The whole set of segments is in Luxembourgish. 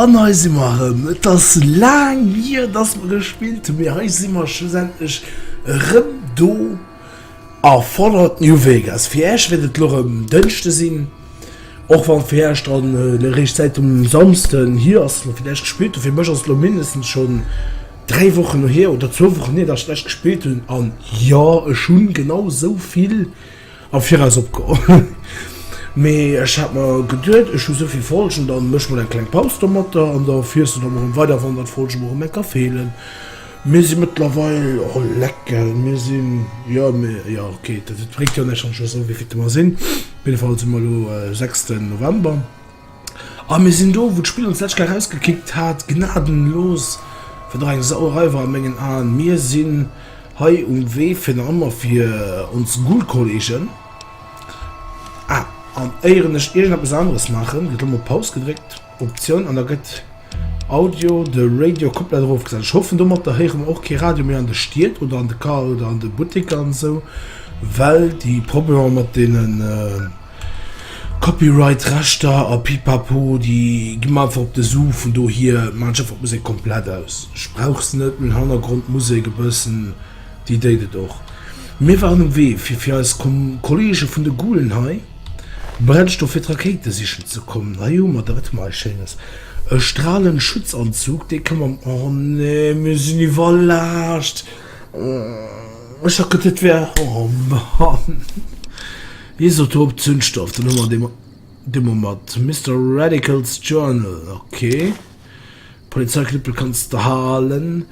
An hei si mer erëm. Et ass laang hier, datt mer gespillt hunn, mee hei si mer schlussendlech erëm do. A fordert New Vegas. Fir Äech wäert et elo rëm Dënschde sinn, och wann fir Äech dann eréischt d'Zäit um Samsden hir ass, fir d'Äech gespillt hunn. Fir mech ass et elo mindestens schonn 3 Wochen no hir, oder zwou Wochen hir, datt ech d'Äech gespillt hunn. An jo, ech hu genau esou vill am Viraus opgeholl, mee ech hat mer geduet, ech hu esou vill Folgen, da méch mol eng kleng Paus domatter an da fiers du da mol erëm weider, wann der d'Folge mol erëm eng Kéier feelen. Mir si mëttlerweil, oh leck gell, mir sinn, jo mir, jo ok, dat et bréngt jo näischt wann ech elo soen wéivilte mer sinn, op jidde Fall si mer elo e sechsten November a mir sinn do wou d'Spill ons d'lescht Kéier erausgekickt hat, gnadenlos, wat och eng Sauerei war a mengen Aen. Mir sinn hei um Wee fir nach ëmmer fir ons Ghoul-Kolleegen, ah an éieren ech iergendeppes aneres maachen, gëtt elo mol Paus gedréckt. Optioun an da gëtt Audio de Radio komplett erofgesat. Ech hoffen domatter héiere mer och kee Radio méi an de Stied oder an de Car oder an de Butteker an esou, well déi Problemer mat deenen Copyright Rechter a Pipapo déi gi mer einfach op de Su. Vun dohier maan ech einfach d'Musek komplett aus. Ech brauch se net, meng Hannergrondmusek e bëssen déi déit et och. Mir waren um Wee fir fir eis Kollege vun de Gulen hei. Brennstoff fir d'Rakéite sichen ze kommen. Hei hu mer der et mei schéines, e Stralenschutzanzug, dee ka mam, oh nee, mir sinn iwwerlaascht, ech hat geduet et wär, oh Mann, Isotop Zündstoff, dann hu mer dee, dee hu mer mat Mister Radical's Journal, okay. Polizeiknüppel kanns de halen,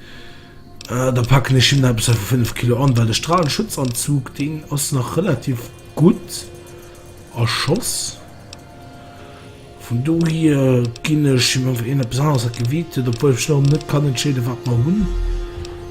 da packen ech him nach eppes vu 5 Kilo an, well de Stralenschutzanzug, deen ass nach relativ gutt a Schoss. Vun dohier ginn ech him einfach iergendepes aneres, wat Gewiicht huet, obwuel ech ech nach net kann entscheeden, wat mer hunn.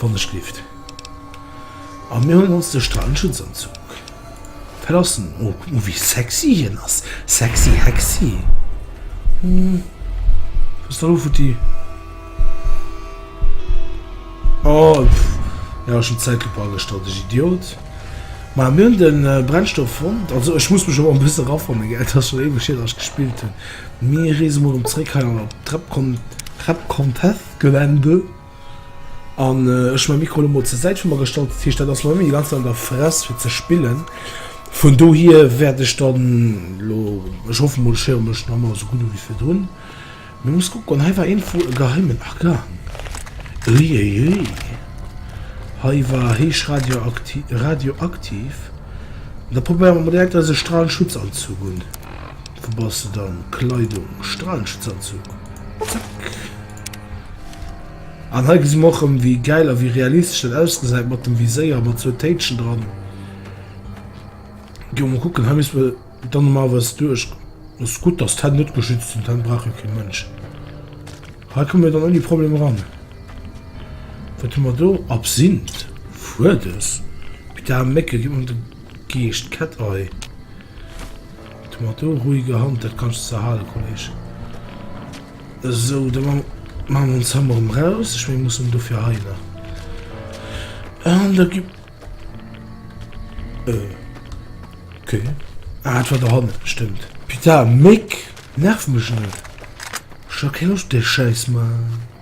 wann ech lift an mir hun ons de Strandschutz anzug verlassen. Oh wéi sexy hien ass! Sexy hexy! Hues de elo futti? Oh jo ech hun d'Zäitlupp agestallt, ech Idiot. Ma mir hun den Brennstoff fonnt, also ech muss mech elo en bëssen rafannen gell, et ass schon éiweg hier dass ech gespillt hun. Mir reese mol erem zeréck hei an d'Trepcon Trepcontestgelände. An ech hun mäi Mikro elo mol zur Säit vu mer gestallt, dat heescht dat ass lo net méi déi ganz Zäit an der Fress fir ze spillen. Vun dohier wäert ech dann elo, ech hoffe mol, ech héiere mech nach emol esou gutt u wéi virdrun. Mee muss kucken, hei war iergendwou e geheimen Argan. Uiuiui, hei war héich radioakti radioaktiv. Da probéiere mer mol direkt eise Strahlenschutzanzug un. Wou bass de dann? Kleidung, Strahlenschutzanzug, zack. An hei gesi mer och rëm wéi gäil a wéi realistesch dat ausgesäit mat dem Viséier, mat zwou Téitschen dran. Gi mer mol kucken, hei misst mer dann normalerweis duerch. Ass gutt, datt d'Hänn net geschützt sinn, d'Hänn brauch jo kee Mënsch. Hei komme mir dann ouni Problem eran. Wat hu mer do? Absinth, Fuedes, Bidar, Mécke, ginn mer de Geescht, Cat-Eye. Du mat do ruhiger Hand, dat kanns de halen Kolleg. Esou, da man man mer ons Hammer em raus, ech meng muss en dofir heilen an da gi euh ok ah et war der hannen stëmmt putain Méck nerv mech net, ech ha keng Loscht op däi Schäiss Mann.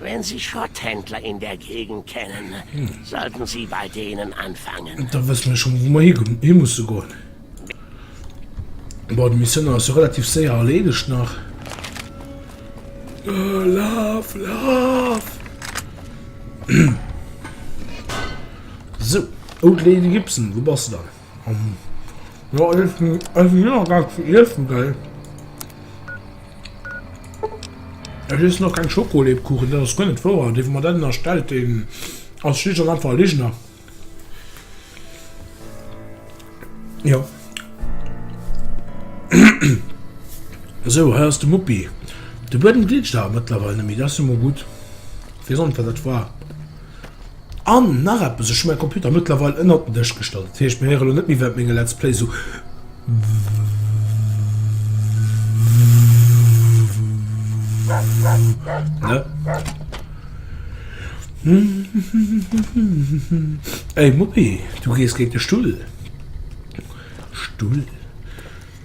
Wenn Sie Schrotthändler in der Gegend kennen, sollten Sie bei denen anfangen. Da wësse mir schonn, wou mer hi musse goen. Bon, d'Missioun ass jo relativ séier erleedegt nach. Laf, laf! Sou, Old Lady Gibson, wou bass de dann? Ja, ich bin also hier noch gar zu essen, gell? Es ist noch kein Schokolebkuchen, das ist gar nicht wahr. Den, man dann erstellt, den als schlicht und einfach Lügner. Ja. so, hier ist der Muppi. Der Boden glitscht aber mittlerweile nicht mehr, das ist immer gut. Wie sonst, was das war. An nach eppes, ech hu mäi Computer mëttlerweil ënnert den Dësch gestallt, dat heescht mir héiere lo net méi während menge Let's Play esou Ey Muppi, du gees géint de Stull! Stull?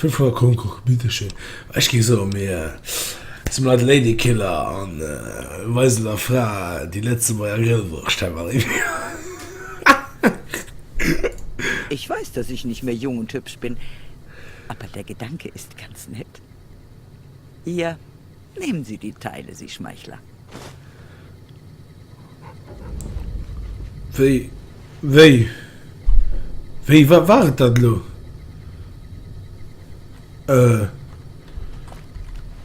Vill vun der Concours-Biddeche, ech géif soen, mir si mat Ladykiller an weisen der Fra déi Lëtzebuerger Grillwurscht hei mat Eeër. Ich weiß, dass ich nicht mehr jung und hübsch bin, aber der Gedanke ist ganz nett. Ier Nehmen Sie die Teile, Sie Schmeichler! Wéi, wéi, wéi, wat war et dat elo? Äh,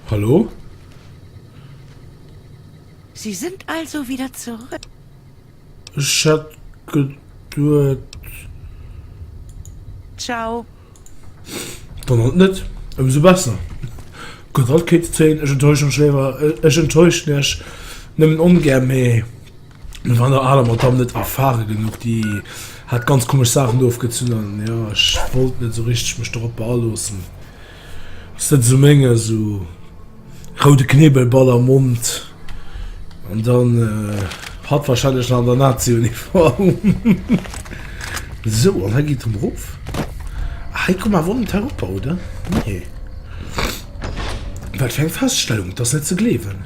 hallo? Sie sind also wieder zurück? Ech hätt geduet. Ciao. Dann halt net, ëmsou besser. Gott, alt kéint et zéien, ech enttäuschen mech léiwer, ech enttäuschen iech nëmmen ongär, mee et war der aler Madamm net erfare genuch, déi hat ganz komesch Saachen ofgezunn, an jo, ech wollt net esou richteg mech dorop aloossen. Sëtz um Méng a sou roude Knebelball am Mond an dann hat wahrscheinlech nach an der Nazi-Uniform. Sou an hei geet et erof. Hei kommen awer net eropper, oder? Nee. Wat fir eng Feststellung, et ass net ze gleewen.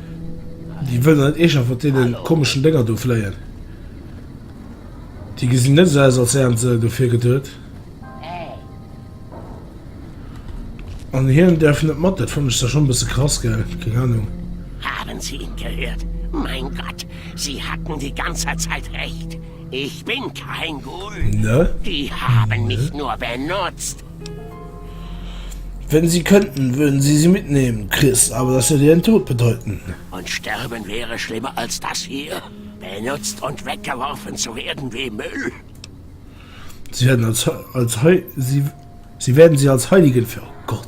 Déi wëllen net eeschter vun deenen komeschen Dénger do fléien. Déi gesinn net esou aus als wären se dofir geduet. An hien däerf net mat, dat fannen ech zwar schonn e bësse krass, gell? Keng Ahnung. Haben Sie ihn gehört? Mein Gott, Sie hatten die ganze Zeit Recht. Ich bin kein Ghoul. Ne? Die haben mich nur benutzt. Wenn sie könnten, würden sie sie mitnehmen, Chris, aber das würde ihren Tod bedeuten. Und Sterben wäre schlimmer als das hier, benutzt und weggeworfen zu werden wie Müll. Sie werden als, als, sie werden sie als Heiligen für Gott.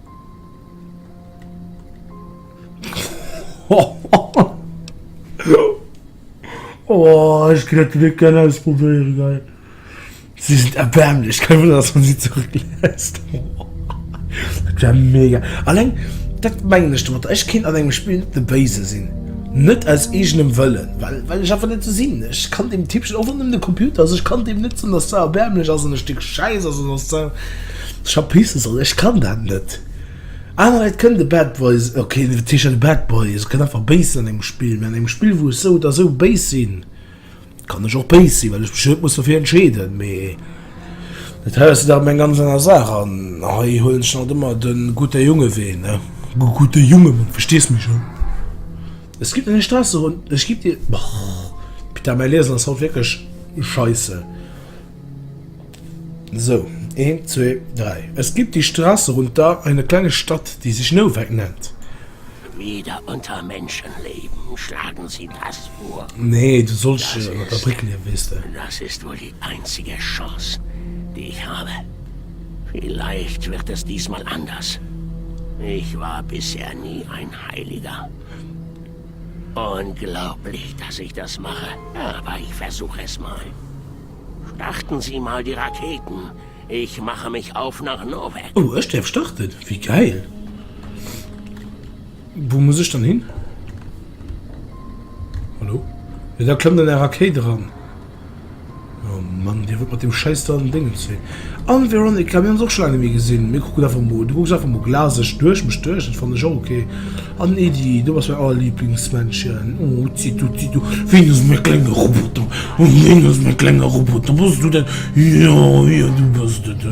Oh, ich kann das nicht gerne ausprobieren, geil. Sie sind erbärmlich. Kein Wunder, dass man sie zurücklässt. Das wäre mega. Allein, das meine ich damit. Ich kann an einem Spiel nicht der Böse sein. Nicht aus eigenem Willen, weil, weil ich einfach nicht so bin. Ich kann dem Typ schon, auch wenn es nur der Computer ist, ich kann dem nicht sagen, dass der erbärmlich ist und ein Stück Scheiss ist und dass der. Ech hab pissen sollen, ech kann dat net. Aner Leit kënnen de Bad Boy, ok wat heescht dann de Bad Boy, se kënnen einfach béis sinn an engem Spill, mee an engem Spill wou ech sou oder sou béis sinn, kann ech och béis sinn, well ech mech net muss derfir entscheeden. Mee dat hei ass jo dach emol eng ganz aner Saach an hei huelen ech dann halt ëmmer de gute Junge Wee ne, de gute Junge Mann, verstees mech an. Es gibt eine Straße rund, es gibt die, oh Peter mäi Liesen ass haut wierklech Scheisse. So, een, zwee, dräi. Es gibt die Straße runter eine kleine Stadt, die sich Nowak nennt. Wieder unter Menschen leben, schlagen sie das vor. Nee, du sollst Das unter der ist- Brück leben, wees de. Das ist wohl die einzige Chance, die ich habe. Vielleicht wird es diesmal anders. Ich war bisher nie ein Heiliger. Unglaublich, dass ich das mache, aber ich versuche es mal. Starten Sie mal die Raketen, ich mache mich auf nach Novek. Oh, ech däerf starten? Wéi gäil! Wou muss ech dann hin? Hallo? Jo, da klëmmt an Är Rakéit eran. Oh Mann, dee Wuert mat deem schäiss dran Déngens wéi. An Veronica, mir hunn se och scho laang net méi gesinn. Mir kucken einfach mol, du kucks einfach mol glaseg duerch mech duerch, dat fannen ech och ok. An Edy, du bass mäin allerliblingsmännchen. Oh utzi tutzi du, ween ass mäi klenge Roboter? Oh ween ass mäi klenge Roboter? Bass du dat? Jo, jo du bass dat.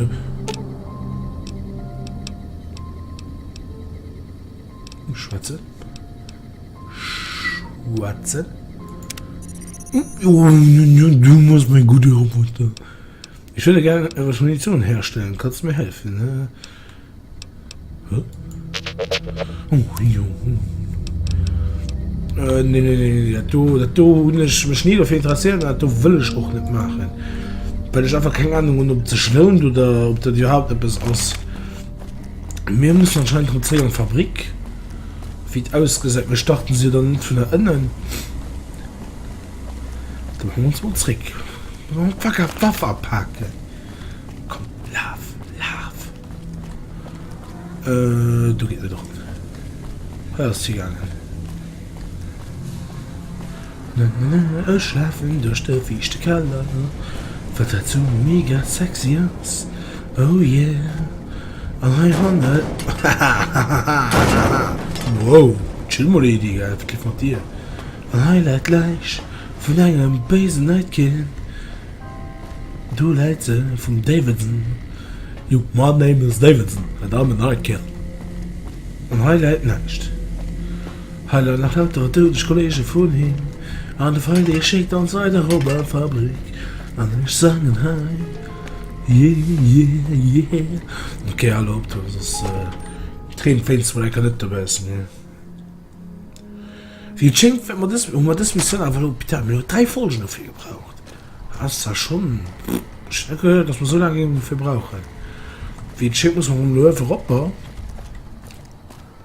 Schwätzen. Schwätzen. Oh, du musst mein gute Roboter. Ich würde gerne etwas Munition herstellen. Kannst du mir helfen? Ne? Huh? Oh, jo. Äh, nee, nee, nee, das do, das do, ich mich nie dafür interessieren, das do will ich auch nicht machen. Weil ich einfach keine Ahnung habe, ob das lohnt oder ob das überhaupt etwas ist. Mir mussen anscheinend rem zréck an d'Fabrik, wéi et ausgesäit. Mir starten se jo dann net vun der ënnen. Da hu mir ons mol zréck. Faker d'Waff apaken. Komm, laf, laf. Euh, do geet net op. Hei ass et higaangen. Ech lafen duerch de fiichte Keller, well dat sou mega sexy ass, oh yeah, an hei hannen, hahahaha, wow, chill mol Edy, gell, wat geet mat dir, an hei läit d'Läich vun engem béisen Nightkin, do läit se, vum Davidson, jo, my name is Davidson and I'm a Nightkin, an hei läit näischt. Hei leien nach lauter doudeg Kollegen vun him an de Feind dee schéckt ons hei der Robbenfabrik an ech sangen hei jeejeejee ok hal op do soss Treen féins de mol enker net dobaussen hir wéi et schéngt hu mer des Missioun awer elo putain mir hu 3 Folgen dofir gebraucht ass zwar schon ech net gehéiert dass mer sou laang géinge dofir brauchen wéi et schéngt muss mer mol elo einfach op.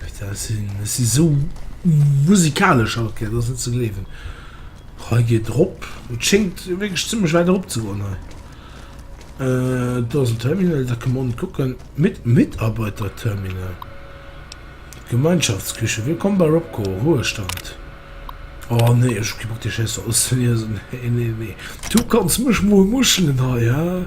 Putain, ech sinn, ech sinn esou musikalesch haut, gell, dat ass net ze gleewen. Hei geet erop, et schéngt wierklech zimmlech wäit erop ze goen hei. Do ass en Terminal, da kënne mer onnen kucken. Mit, Mitarbeiterterminal, Gemeinschaftsküche, Willkommen bei Robco, Ruhestand. Oh nee, ech hu kee Bock déi Schäiss do auszeliesen, nee, nee, nee. Du kanns mech mol muschelen hei, he.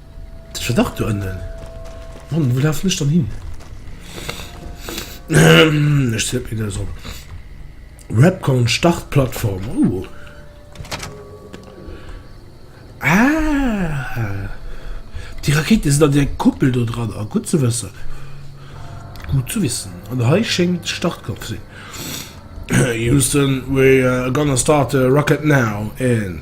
Ech war dach doënnen. Mann, wou lafen ech dann hin? Ech zéck mech nees op. Webcon Startplattform, oh. Ah! Déi Rakéiten sinn an där Kuppel do dran. Ah, gutt ze wëssen. Gut zu wissen. An hei schéngt de Startknopf ze sinn. Houston, we are gonna start the rocket now in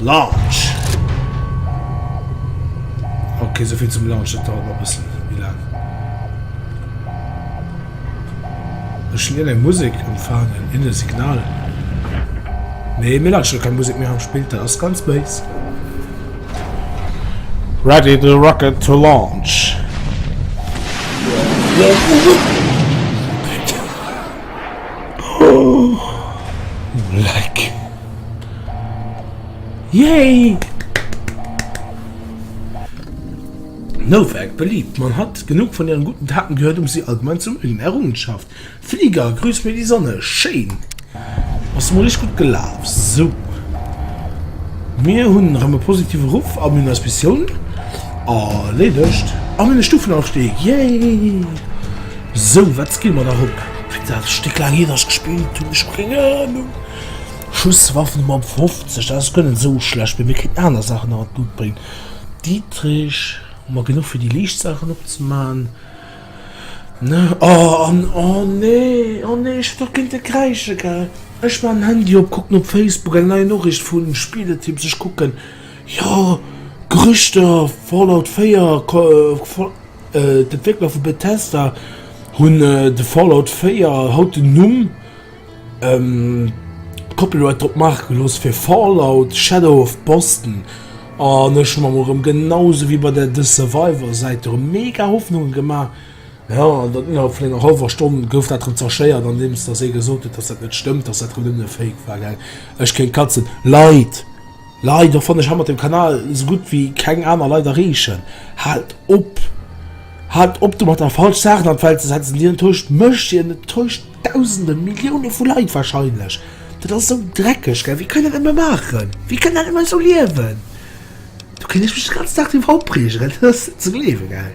Launch! Ok, souvill zum Launch, dat dauert nach e bëssen méi laang. Ech lien eng Musek unfaangen, in e Signal. Nee, mir lauschteren keng Musek méi am Spill, dat ass ganz béis. Ready the rocket to launch! Yay! Nowak, beliebt, Man hat genug von ihren guten Taten gehört, um sie allgemein zu mögen. Errungenschaft, Flieger, grüß mir die Sonne, schéin! Ass mol richteg gutt gelaf. Sou. Mir hunn erëm e positive Ruff a mir hunn eis Missioun erleedegt. A mir hunn e Stufenaufstieg, yay! Sou, wat skille mer nach op? Fir dat Stéck laang iert ech gespillt hunn, ech hu keng Ahnung. Schusswaffen mam 50 dat ass guer net esou schlecht, mee mir kritt aner Saachen nach an d'Lut bréngt. Dietrich, hu mer genuch fir déi liicht Saachen opzemaachen? Ne, oh an oh nee, oh nee ech hunn dach géint e kräische gell. Ech maachen den Handy op, kucken op Facebook, eng nei Noriicht vun Spieletipps, ech kucken, jo Gerüchter, Fallout 4 ko fol d'Entwéckler vu Bethesda hunn de Fallout 4 haut den Numm. D'Koppel huet drop maache gelooss fir Fallout, Shadow of Boston an ech hu mer erëm genau sou wéi bei der The Survivor Säit erëm mega Hoffnunge gemaach. Jo, an dann innerhalb vun enger hallwer Stonn gouf dat erëm zerschéiert andeems dass ee gesot huet, dass dat net stëmmt, dass dat erëm nëmmen e Fake war. Ech kéint katzen. Leit! Leider fanne ech han mat dem Kanal sou gudd wéi keng aaner Leit erreechen. Haalt op! Haalt op domat der falsch Saachen an d'Welt ze setzen, déi enttäuscht mech, déi enttäuscht dausende, Millioune vu Leit wahrscheinlech. Dat ass sou dreckeg gell, wie kann dat emmer maachen? Wie kann dat emmer sou liewen? Do kéint ech mech den ganzen Dag driwwer opreegen, dat ass net ze gleewen gell.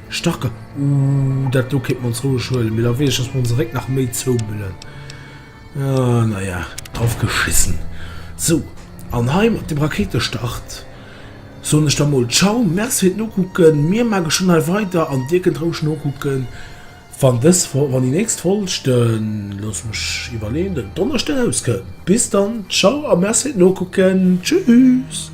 Starke Uuhh, dat do kéint mer ons roueg huelen, mee da weess ech, dass mer onse Réck nach méi zoumëllen. Ahh, na ja, drauf geschissen. Sou, an hei mat dem Raketestart soen ech da mol Tschau, Merci fir d'Nokucken. Mir mache schonn hei weider an dir kënnt roueg nokucken, wann dës Fol, wann déi nächst Folg den, looss mech iwwerleeën, den Donneschde rauskënnt. Bis dann, Tschau a Merci fir d'Nokucken. Tschüss!